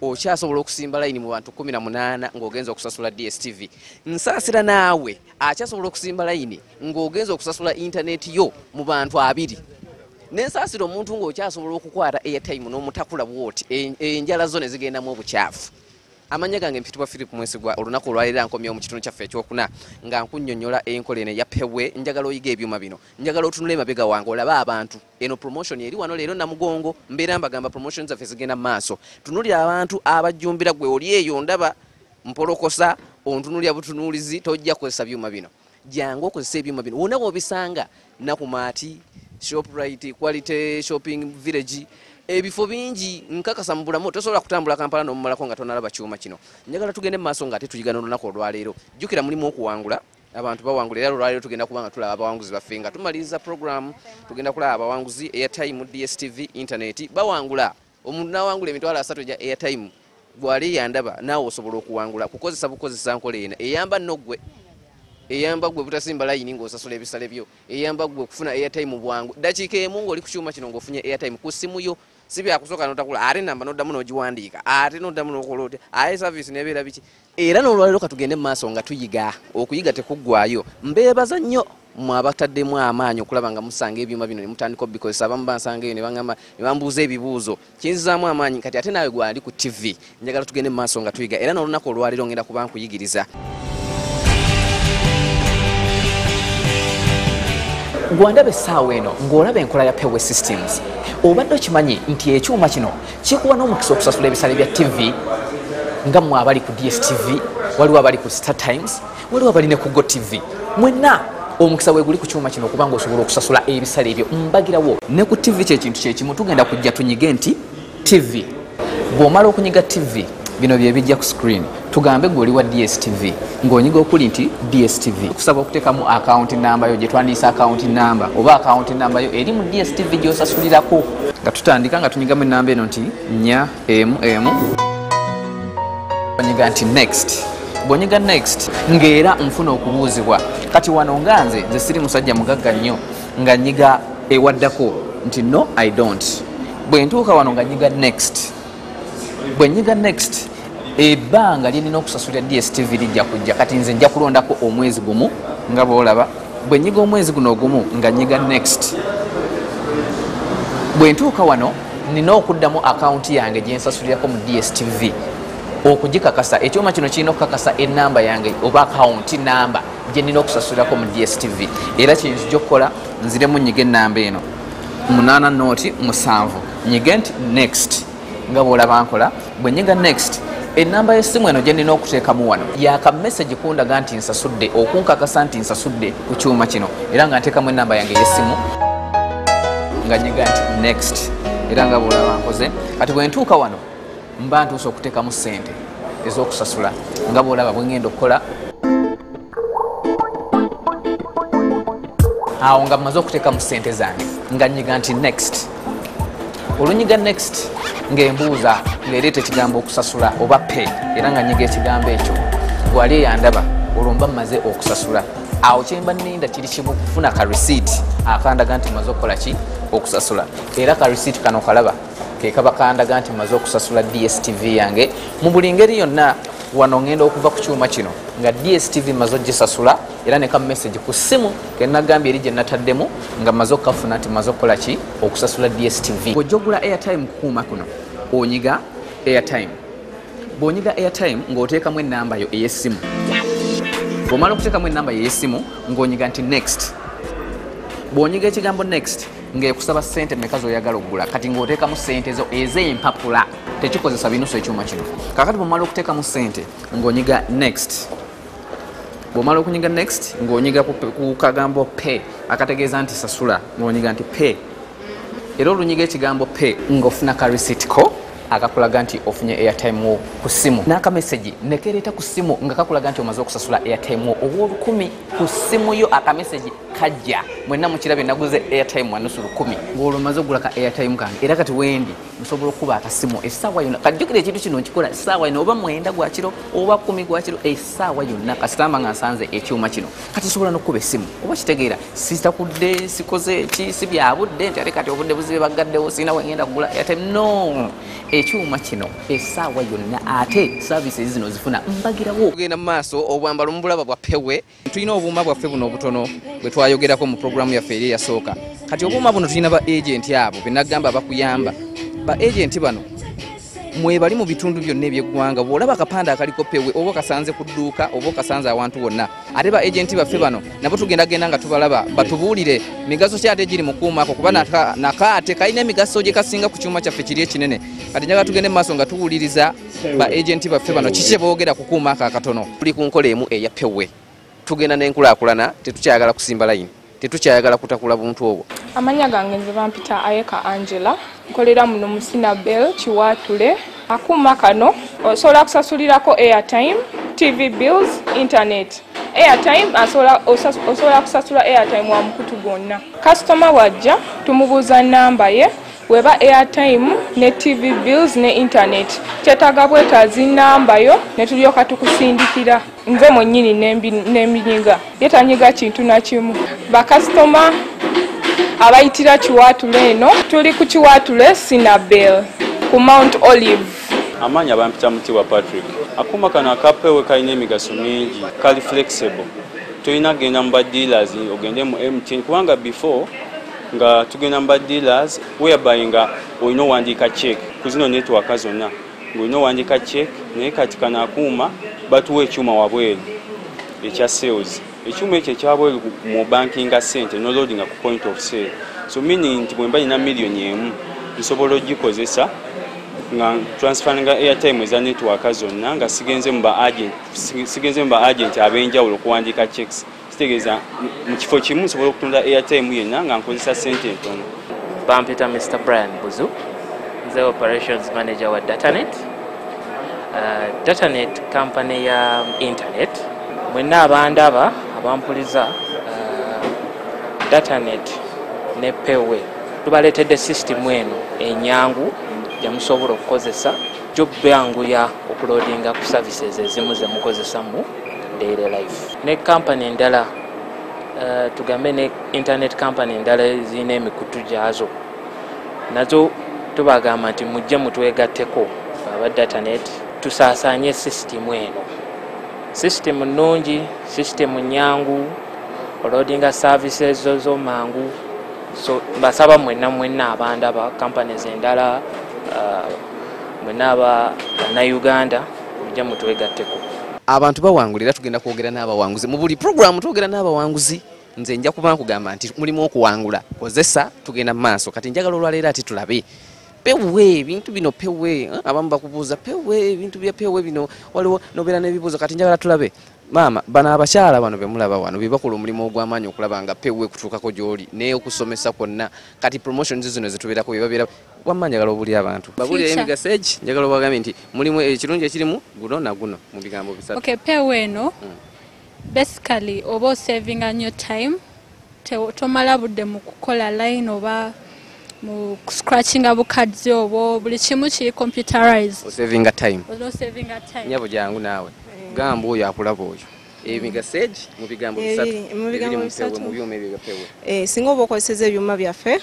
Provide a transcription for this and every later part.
okyasobola okusimba layini mu bantu kumi na munaana ng'ogenza okusasula dstv nsaasira naawe akyasobola okusimba layini ng'ogenza okusasula intaneti yo mu bantu abiri nensaasira omuntu ng'okyasobola okukwata airtime n'omutakula bwoti enjala zo ne zigendamu obukyafu amanya gange mpitibwa philip mwesigwa olunaku olwaleero ankomyewo mu kitundu kyaffe ekyokuna nga nkunyonyola enkola eno eyapewe njagala oyiga ebyuma bino njagala otunula emabega wange olabe abantu Eno promotion eri wano leero namugongo mbeera mbagamba promotion zaffe zigenda mu maaso tunulira abantu abajjumbira gwe oli eyo ndaba mpolokosa ontunulira butunuulizi tojja kukozesa byuma bino jangu okozesa ebyuma bino wona wobisanga nakumaati shoprite quality shopping village ebifo bingi nkakasa mu bulamu tosobola kutambula kampala nomumalako nga tonalaba kyuma kino njagala tugende mu maaso nga ate tuyiga nolunaku olwaleero jjukira mulimu okuwangula abantu bawangula era olwaleero tugenda kuba nga tulaba abawanguzi baffe nga tumaliriza programu tugenda kulaba abawanguzi airtime dstv intaneti bawangula omuntu nawangula emitwalo asatu egya airtime gwali yandaba naawe osobola okuwangula kukozesa bukozesa nkola ena eyamba nogwe eyamba gwe butasimba layini ngaosasula ebisale byo eyamba gwe okufuna airtime bwangu dakiika emu ngaoli ku kyuma kino ngaofunye airtime ku simu yo si byakusooka notakula ate namba noddamu nogiwandiika ate noddamu nokola otya aye saviisi nebeera biki Era n'olwaleero katugende mu maaso nga tuyiga, okuyiga tekuggwaayo. Mbeebaza nnyo mwe abataddemu amaanyi okulaba nga musanga ebyuma bino ne mutandika obikozesa. Abamu bansanga eyo ne bangamba ne bambuuza ebibuuzo. Kinzizaamu amaanyi kati ate naawe gw'ali ku ttivi njagala tugende mu maaso nga tuyiga era n'olunaku olwaleero ngenda kuba nkuyigiriza. gwandaba essaawa eno ng'olaba enkola ya peway systems obadde okimanyi nti ekyuma kino kikuwa n'omukisa okusasula ebisale bya ttivi nga mwe abali ku dstv waliwo abali ku star times waliwo abali ne ku go tv mwenna omukisa weguli ku kyuma kino okubanga osobola okusasula ebisale ebyo mbagirawo ne ku ttivi kyekintu kyekimu tugenda kujja tunyige nti ttivi bw'omala okunyiga ttivi bino byebijja ku screen tugambe gwe oli wa dstv ng'onyiga okuli nti dstv kusaba okuteekamu akawunti namba yo gyetwandiisa akawunti namba oba akawunti namba yo eri mu dstv gyosasulirako nga tutandika nga tunyigamu enamba eno nti nya emu emu onyiga nti next bwonyiga next ng'era nfuna okubuuzibwa kati wano nga nze nze siri musajja mugagga nnyo nga nyiga ewaddako nti no i don't bwe ntuuka wano nga nyiga next bwenyiga next ebbanga lyenina okusasulira dstv lijja kujja kati nze nja kulondako omwezi gumu nga bwolaba bwenyiga omwezi guno ogumu nga nyiga next bwentuuka wano nina okuddamu akawunti yange gyensasulirako mu dstv okugikakasa ekyuma kino kirina okukakasa enamba yange oba akawunti namba gyenina okusasulirako mu dstv era kyenzijokukola nziremu nyiga enamba eno munana noti musanvu nyige nti next nga bwolaba nkola bwe nyiga next enamba yesimu eno gyendina okuteekamu wano yaka message kundaga nti nsasudde okunkakasa nti nsasudde ku kyuma kino era nga nteekamu enamba yange yesimu nga nyiga nti next era nga bwolaba nkoze kati bwe ntuuka wano mba ntuusa okuteekamu ssente ez'okusasula nga bwolaba bwe ngenda okukola awo nga mumaze okuteeka mu ssente zange nga nyiga nti next olunyiga next ng'embuuza ng'ereeta ekigambo okusasula oba pe era nga nyiga ekigambo ekyo gwali eyandaba olwo mba mmaze okusasula awo kyemba ninda kiri kimu kufuna ka receipt akandaga nti maze okukola ki okusasula era ka receipt kano kalaba kekaba kandaga nti maze okusasula dstv yange mu buli ngeri yonna wano ngenda okuva ku kyuma kino nga dstv maze ogisasula era ne kamessage ku ssimu kenagambye eri gye nataddemu nga maze okukafuna nti maze okukola ki okusasula dstv ojja ogula airtime kukuuma kuno onyiga airtime bwonyiga airtime ng'oteekamu ennamba yo ey'essimu bwomala okuteekamu ennamba yo ey'essimu ng'onyiga nti next bwonyiga ekigambo next ngaekusaba sente meka zoyagala okugula kati ngaotekamu sente zo ezempapula tekikozesa binusu ekyuma kino kakati bwomala okutekamu sente ngaonyiga next bwomala okunyiga next ngaonyiga ku kagambo pe akategeeza nti sasula ngaonyiga nti pe era olunyiga ekigambo pe ngaofuna ka receipt ko akakulaga nti ofunye airtime wo ku simu n'akamesegi nekereeta ku simu nga kakulaga nti omaze okusasula airtime wo ow'olukumi ku ssimu yo akamesegi kajja mwenna mukirabye naguze airtime wanusu lukumi ng'olwo maze okugula ka airtime kange era kati wendi nsobola okukuba akasimu essaawa yonna kajjukira ekintu kino nkikola essaawa yonna oba mwenda gwakiro oba kumi gwakiro essaawa yonna kasitamba nga nsanze ekyuma kino kati nsobola n'okukuba essimu oba kitegeera sitakudde sikoze ki si byabudde nti ate kati obudde buzibe baggaddewo sirina wengenda kugula airtime no ekyuma kino esaawa yonna ate services zino zifuna mbagirawo ogenda mu maaso obwambalo mubulaba bwa pewe tulina obuuma bwaffe buno obutono bwe twayogerako mu programu yaffe eri eyasooka kati obuuma buno tulina ba agenti abo benagamba bakuyamba ba agenti bano mwebali mu bitundu byonna ebyeggwanga bwolaba akapande akaliko pewe oba okasanze ku dduuka oba okasanze awantu wonna ate ba agenti baffe bano nabo tugenda genda nga tubalaba batubuulire migaso ki ate giri mukuumako kuba nakaate kalina emigaso gye kasinga ku kyuma kyaffe kiri ekinene kati njaga tugende mu maaso nga tuwuliriza ba agenti baffe bano kiki kyeboogera kukuumako akatono tuli ku nkola emu eya pewe tugenda n'enkulaakulana tetukyagala kusimba layini tetukyayagala kutakula buntu obwo amanya gange nze bampita ayeka angela nkolera muno musina bell kiwaatule akuuma kano osobola kusasulirako airtime tv bills internet airtime osobola kusasula airtime wa mukutu gwonna kasitoma bwajja tumubuuza namba ye weba airtime ne tv bills ne internet kyetaaga bwetaazi namba yo ne tulyoka tukusindikira nze mwenyini neminyiga ye tanyiga kintu nakimu bakasitoma abayitira kiwaatula eno tuli ku kiwaatule sinabel ku mount olive amaanyi abampita mutibwa patrick akuuma kano akapewe kalina emigaso mingi kali flexible tolina kugenda mu badealers ogende mu mtn kubanga before nga tugenda mu badealers whereby nga olina owandiika check ku zino netwaka zonna ngolina owandika cek naye kati kano akuuma batuwa ekyuma wabweru ekya sales ekyuma ekyo ekyabweru mu bankinga sente noloadinga ku point of sale so meaning nti bwemba nina millioni emu nsobola ogikozesa nga transferinga airtime eza networka zonna nga sigenze mu ba agenti abenjawulo okuwandika checks kitegeeza mu kifo kimu nsobola okutunda airtime yenna nga nkozesa sente entono bampita mr brian buzu nze operations manager wa datanet uh, datanet company ya internet mwenna abandaba abampuliza uh, datanet ne pewe tubaleetedde system eno enyangu gyemusobola okukozesa jobyanguya okulodinga ku services ezimu zemukozesamu daily life ne kampany endala uh, tugambe ne internet kampany endala zirina emikutu gyazo nazo tubagamba nti mujje mutwegatteko aba datanet tusaasaanye sisitimu eno sisitimu nnungi sisitimu nyangu olodinga services zo zomangu so mbasaba mwenna mwenna abandaba companies endala uh, mwenna aba bannayuganda mujja mutwegatteko. abantu bawangula era tugenda kwogera n'abawanguzi mu buli puroguramu twogera n'abawanguzi nze nja kuba nkugamba nti mulimu okuwangula kozesa tugenda mu maaso kati njagala olwaleero ati tulabe pewe ebintu bino pewe eh, abamu bakubuuza pewe ebintu bya pewe bino waliwo nobeera n'ebibuuzo kati njagala tulabe maama bano abakyala bano bemulaba wano bebakola omulimu ogw'amaanyi okulaba nga pewe kutuukako gy'oli naye okusomesa kwonna kati promotions zino zetubeerako bebabeera wamma njagala obulira abantu babulireyo emigaso egi njagala obagambe nti mulimu ekirungi ekirimu guno na guno mu bigambo bisatu okay, peewo eno mm. basically oba osavinga nyo time tomala budde mu kukola line oba mu scratchinga bukadzi obwo buli kimu kiri computerized osavinga time nyabo jangu naawe gamba oyo akulaba oyo emigaseji mu bigambo bisatu ebiri mu mpewe mu byuma ebyo byapewe eh, singa oba okozeseza ebyuma byaffe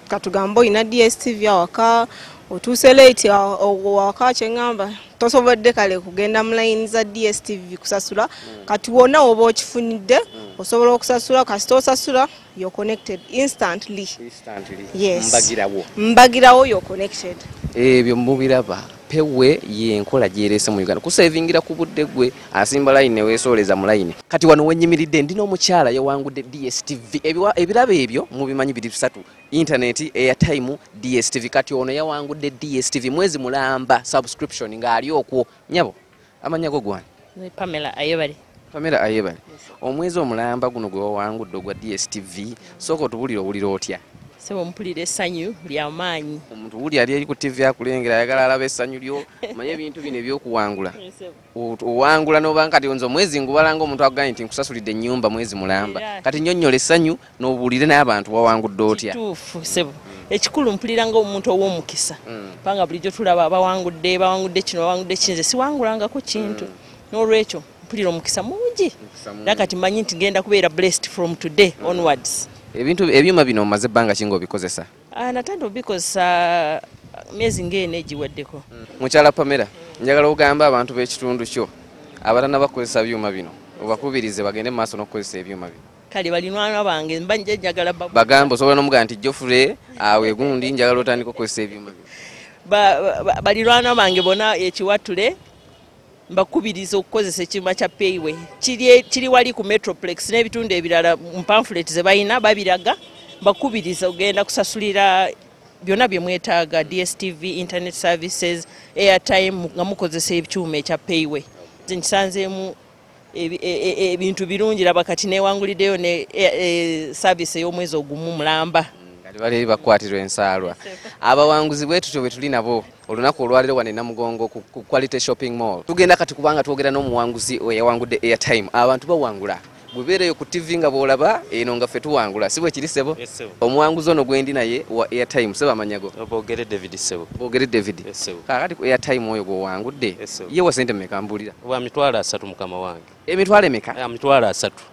katugambe olina dstv awaka otuuse late awaka kyeŋamba tosobodde kale kugenda mu layini za dstv kusasula hmm. kati wona oba okifunidde hmm. osobola okusasula kasita osasula you're connected instantly instantly yes mbagirawo mbagirawo you're connected ebyo eh, mubiraba pewe yenkola gyerese mu uganda kusevingira ku budde gwe asimba layini newesooleza mu layini kati wano wenyimiridde ndi n'omukyala yawangudde dstv ebirabo ebyo mubimanyi biri bisatu intaneti airtime dstv kati ono yawangudde dstv mwezi mulamba subscription ng'ali okwo nyabo amannya go gwani pamela ayebale pamela ayebale omwezi omulamba guno gwe wawangudde ogwa dstv sooka otubulire owulira otya sebo mpulira essanyu lya maanyi omuntu wuli ali eri ku ttivi akulengera ayagala alaba essanyu lyo manye ebintu bino ebyokuwangula owangula nobanga kati nze omwezi ngubalanga omuntu akugambye nti nkusasulidde ennyumba mwezi mulamba kati nyonnyola essanyu nobuulire naye abantu wawangudde otya kituufu sebo ekikulu mpulira nga omuntu ow'omukisa mm. kubanga bulijjo tulaba bawangudde bawangudde kino bawangudde kinze siwangulangako kintu mm. n'olwekyo mpulira omukisa mungi era kati manyi nti genda kubeera blessed from today mm. onwards ebintu ebyuma bino omaze ebbanga kinga obikozesa ah, natandika obikozesa uh, myezi ngaeno egiweddeko mukyala pamera njagala ogamba abantu b'ekitundu kyo abatana bakozesa byuma bino obakubirize bagende mu maaso n'okukozesa ebyuma bino kale balinwana bange mba nje njagala babu bagambo sobola nomuga nti jofure awe gundi njagala otandika okozesa ebyuma balirwana bange bona ekiwatule mbakubiriza okukozesa ekyuma kya payway kiri wali ku metroplex n'ebitundu ebirala mpamfulet ze balina babiraga mbakubiriza ogenda kusasulira byonna bye mwetaaga dstv internet services airtime nga mukozesa ekyuma ekya payway nkisanzeemu E, e, e, ebintu birungi laba kati newangulideyo ne service ey'omwezi ogumu mulamba kati bali bakwatirwa ensaalwa abawanguzi bwe tutyo bwe tuli nabo olunaku olwaliro wane namugongo ku quality shopping mall tugenda kati kubanga twogera n'omuwanguzi eyawangudde airtime abantu bawangula gwebeereyo ku ttivi nga bw'olaba eno nga ffe tuwangula si bwe kiri ssebo omuwanguzi ono gwe ndi naye wa airtime sebo amanyago boogere david sebo boogere david kaakati ku airtime oyo gw'owangudde ye wa sente mmekambuulira wa mitwalo asatu mukama wange emitwalo emeka ya mitwalo asatu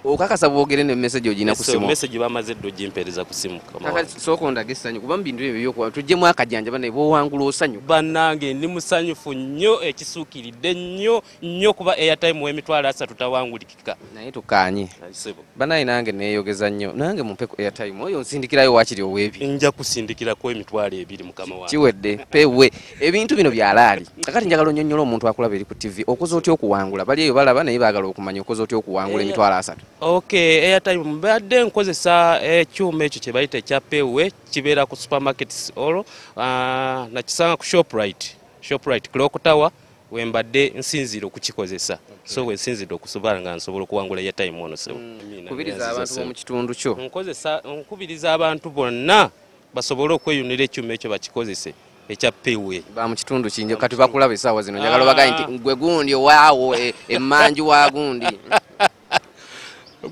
okakasa bwogere ne message ogina ku simu message bamaze ddo gimpereza ku simu kaka soko ondaga essanyu kuba mubintu ebyo byokuwa tujjemu akajanja banaye bwowangula osanyu banange ndi musanyufu nnyo ekisuukiridde nnyo nnyo kuba airtime w'emitwalo asatu tawanguliki naye tukaanye banaye nange neyogeza nnyo nange mumpe ku airtime oyo nsindikirayo wakiri owebi nja kusindikirako emitwalo ebiri mukama wa kiwedde pewe ebintu bino byalaali kakati njagala onyonyola omuntu akulaba eri ku tv okoze otya okuwangula bali eyo balaba naye bagala okumanya okoze otya okuwangula eh, emitwalo asatu ok airtime mbadde nkozesa ekyuma ekyo kyebayita ekya pewe kibeera ku supermarkets olwo ah, nakisanga ku shoprite shoprite clock tower wembadde nsinziira okukikozesa so wensinzidde okusobala nga nsobola okuwangula ya time ono sebo mm. kubiriza abantu bomu kitundu kyo nkozesa nkubiriza abantu bonna basobole okweyunira ekyuma ekyo bakikozese ekya pewe ba mu kitundu kinjo kati bakulaba esaawa zino njagala bagaye nti ah. gwe gundi owaawo e, emanju wa gundi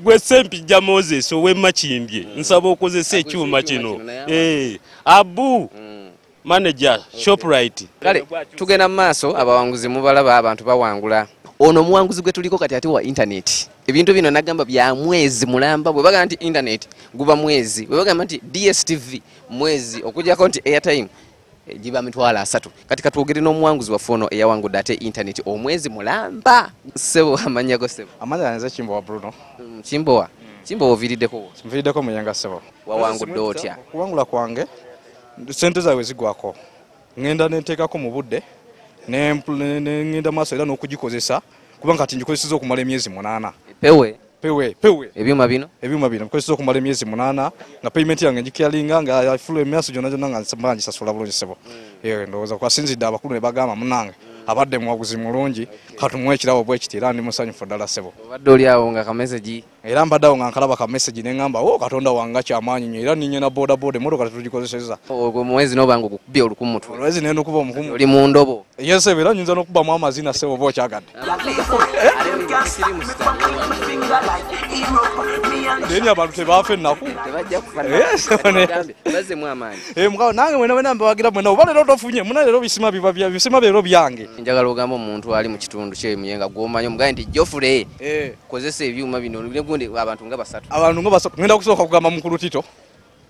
gwe sempijja moses owe makimbye nsaba okozesa ekyuma kino eh, abu mm. manager shoprite kale tugenda mu maaso abawanguzi mubalaba abantu bawangula ono omuwanguzi gwe tuliko kati ate wa intaneti ebintu bino nagamba bya mwezi mulamba bwe bagamba nti intaneti guba mwezi bwe bagamba nti dstv mwezi okujjako nti airtime eh, giba mitwalo asatu kati katwogere n'omuwanguzi waffe ono eyawangudde ate intaneti omwezi mulamba sebo amanyago sebo amanya nze kimbowa bruno mm, kimbowa kimbowa oviiriddeko nviiriddeko muyenga sebo wawangudde otya okuwangula kwange sente zaabwe zigwako ngenda nenteekako mu budde nengenda maaso era n'okugikozesa kuba nga kati ngikozeseza okumala emyezi munaana pewe pewe pewe ebyuma bino ebyuma bino bikozeseza okumala emyezi munaana nga payment yange ngikyalinga nga ifulu emyasi gyonna gyonna nga mba ngisasula bulungi sebo mm. eh, ndowooza kwasinzidde abakulu ne bagamba munange abadde muwaguzi mulungi katumuwa ekirabo bwekiti era ndi musanyufu ddala sebo obadde oli awo nga kameze gi era mbadde awo nga nkalaba ka message ne ŋŋamba o oh, katonda wange kyamaanyi nyo era ninye na boda boda emmotoka tetugikozesezza ogwo muwezi noba nga ogukubye oluku mutwe olwezi naye nokuba omukumu oli mu ndobo yes era nyinza nokubamu amazina se oba okyagadde naye abantu tebaafa ennaku eh, nange mwena wena mbawagira mwena oba leero tofunye muna leero bisima bisima leero byange njagala ogamba omuntu ali mu kitundu kyemuye nga gwomanyi omugaye nti jofule eh. kozesa ebyuma bino negundi abantu nga basatu abantu nga basatu ngenda kusooka kugamba mukulu tito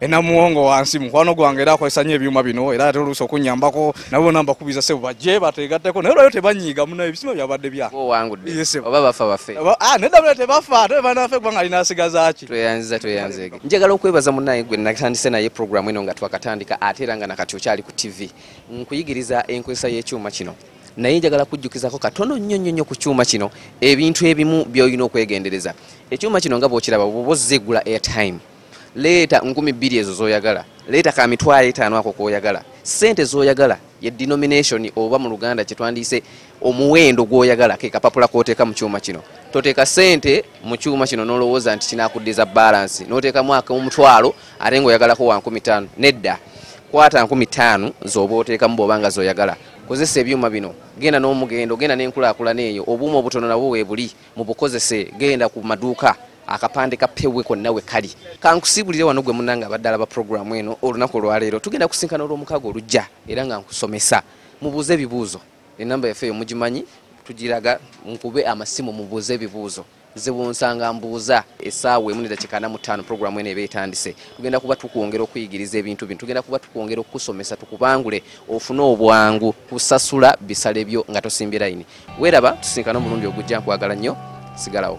enamuwongo wansi mukwano gwange era akozesa nyo ebyuma bino era ate oluusi okunyambako nabo bona mbakubiza sebo bajje bategatteko naye olwayo tebanyiiga muna ebisima byabadde byaoba bafa bafe ah, nedabula tebafa ate baana bafe kubanga alina asigazaki tweyanziza tweyanzege njagala okwebaza munaye gwe natandise naye programu eno nga twakatandika ate era nga nakati okyali ku tv nkuyigiriza enkozesa y'ekyuma kino naye njagala kujjukizako katono nnyo nnyo nnyo ku kyuma kino ebintu ebimu byolina okwegendereza ekyuma kino nga bwokiraba bwoba ozza egula airtime leeta nkumi bbiri ezo zoyagala leeta ka mitwalo etaano ako koyagala sente zoyagala ye denomination oba mu luganda kyetwandiise omuwendo gwoyagala ke kapapula koteeka mu kyuma kino toteeka sente mu kyuma kino nolowooza nti kinakuddiza balansi noteekamu akomutwalo ate nga oyagalako wa nkumi taano nedda kwata nkumi taano zoba oteekamu bwoba nga zoyagala Kozesa ebyuma bino, genda n'omugendo, genda n'enkulaakulana eyo, obuuma obutono nabwo weebuli, mubukozese, genda ku maduuka, akapande ka Pewe konna we kali. Ka nkusiibulire wano ggwe munnange abadde alaba pulogulaamu eno olunaku olwaleero, tugenda kusisinkana Olwomukaaga olujja era nga nkusomesa. Mubuuze ebibuuzo, ennamba yaffe eyo mugimanyi, tugiraga, mukube amasimu mubuuze ebibuuzo. ziwunsa nga mbuuza. Essaawa emu n'eddakiika ana mu ttaano pulogulaamu eno eba etandise. Tugenda kuba tukwongera okuyigiriza ebintu bino. Tugenda kuba tukwongera okukusomesa tukubangule ofune obwangu kusasula bisale byo nga tosimbye layini. Weeraba tusinkane omulundi ogujja nkwagala nnyo sigalawo.